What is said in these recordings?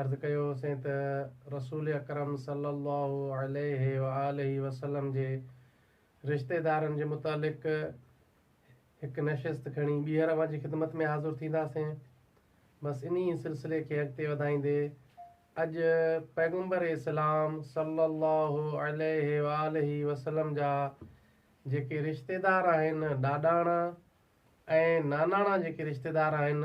عرض ڪيو هوسين ته رسول اڪرم صلّي اللّٰه عليه واٰله وسلّم جي رشتيدارن جي متعلق هڪ نشست کڻي ٻيهر اوهان جي خدمت ۾ حاضر ٿينداسين. بس انهي سلسلي کي اڳتي وڌائيندي اڄ پيغمبر اسلام صلّي اللّٰه عليه واٰله وسلّم جا جيڪي رشتيدار آهن ڏاڏاڻا ۽ ناناڻا جيڪي رشتيدار آهن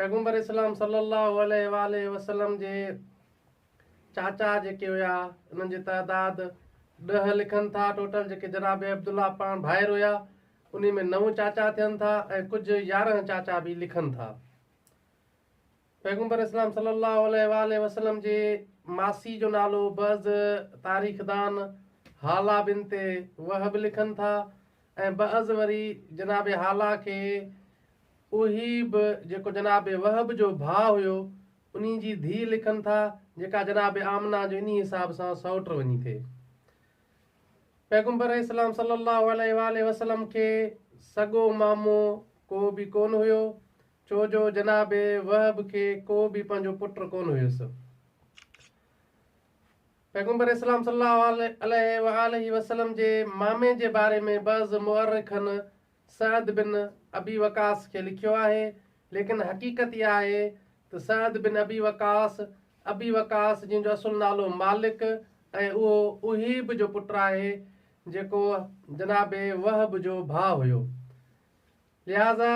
پيغمبر اسلام صلي الله عليه وآله وسلم جي چاچا جيڪي هيا انهن جي تعداد ڏهه لکن ٿا ٽوٽل جيڪي جناب عبدالله پاڻ ڀائر هيا انهي ۾ نو چاچا ٿين ٿا ۽ ڪجهه يارهن چاچا به لکن ٿا پيغمبر اسلام صلي الله عليه وآله وسلم جي ماسي جو نالو بعض تاريخدان هالا بنت وهب لکن ٿا ۽ بعض وري جناب هالا کي اهي به جيڪو جناب وهب جو ڀاء هيو انهي جي ڌيء لکن ٿا جيڪا جناب آمنه جو انهي حساب سان سئوٽ وڃي ٿي. پيغمبر اسلام صلي الله عليه واٰله وسلم کي سڳو مامو ڪو به ڪون هيو ڇو جو جناب وهب کي ڪو به پنهنجو پٽ ڪون هيس. پيغمبر اسلام صلي الله عليه وآله وسلم جي مامي جي باري ۾ بعض مؤرخن سعد بن ابي وقاص کي لکيو آهي، ليڪن حقيقت اها آهي ته Saad bin Abi Waqqas, Abi Waqqas جنهن جو اصل نالو مالڪ ۽ اهو اهيب جو پٽ آهي جيڪو جناب وهب جو ڀاء هيو. لهٰذا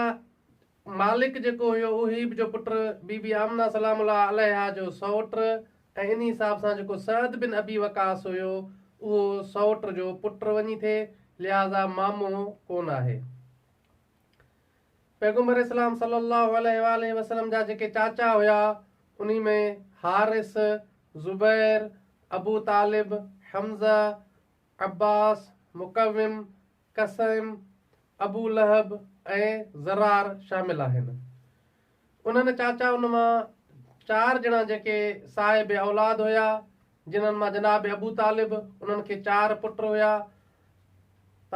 مالڪ جيڪو هيو اوهيب جو پٽ بي بي آمنه سلام الله عليها جو سئوٽ ۽ ان حساب سان جيڪو سعد بن ابي وقاص هيو اهو سئوٽ جو پٽ وڃي ٿي لهٰذا مامو ڪونه آهي. پيغمبر اسلام صلّي الله عليه واٰله وسلّم جا جيڪي چاچا هيا انهي ۾ حارث، زبير، ابو طالب، حمزه، عباس، مقوم، قصيم، ابو لهب ۽ ضرار شامل آهن. انهن چاچائن مان چار ڄڻا جيڪي صاحب اولاد هيا، جنهن مان جناب ابو طالب، انهن کي چار پٽ هيا،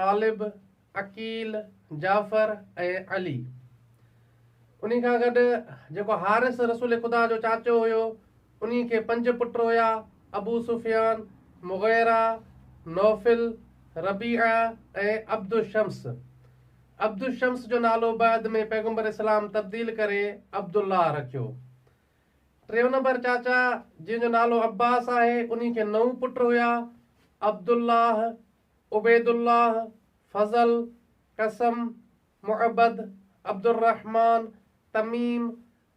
طالب، عقيل، جعفر ۽ علي. انهي کان گڏ جيڪو حارث رسول خدا جو چاچو هيو، انهي کي پنج پٽ هيا، ابو سفيان، مغيره، نوفل، ربيعه ۽ عبد الشمس. عبد الشمس جو نالو بعد ۾ پيغمبر اسلام تبديل ڪري عبد الله رکيو. ٽيون نمبر چاچا جنهن جو نالو عباس آهي، انهي کي نو پٽ هيا، عبد الله، عبيدالله، فضل، قسم، معبد، عبدالرحمان، تميم،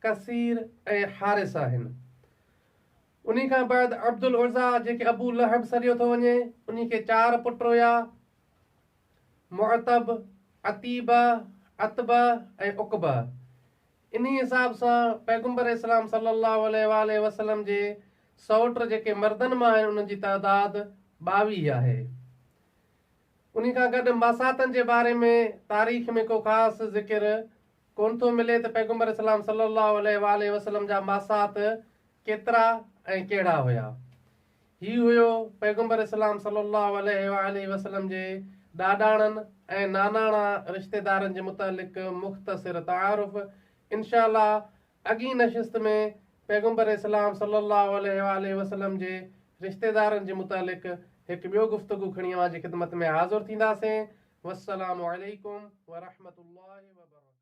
ڪثير ۽ حارث آهن. انهي کان بعد عبدالعزيٰ جيڪي ابو لهب سڏيو ٿو وڃي، انهي کي چار پٽ هيا، معتب، عتيبه، عتبه ۽ عقبه. انهي حساب سان پيغمبر اسلام صلي الله عليه وآله وسلم جي سئوٽ جيڪي مردن مان آهن انهن جي تعداد ٻاويهه آهي. انهي کان گڏ ماساتن جي باري ۾ تاريخ ۾ ڪو خاص ذڪر ڪونه ٿو ملي ته پيغمبر اسلام صلي الله عليه وآله وسلم جا ماسات ڪيترا ۽ ڪهڙا هيا. هي هيو پيغمبر اسلام صلّي اللّٰه عليه واٰله وسلّم جي ڏاڏاڻن ۽ ناناڻا رشتيدارن جي متعلق مختصر تعارف. انشاء الله اڳين نشست ۾ پيغمبر اسلام صلّي اللّٰه عليه واٰله وسلّم جي رشتيدارن جي متعلق هڪ ٻيو گفتگو کڻي اوهان جي خدمت ۾ حاضر ٿينداسين. والسّلام عليڪم ورحمة الله وبرڪاته.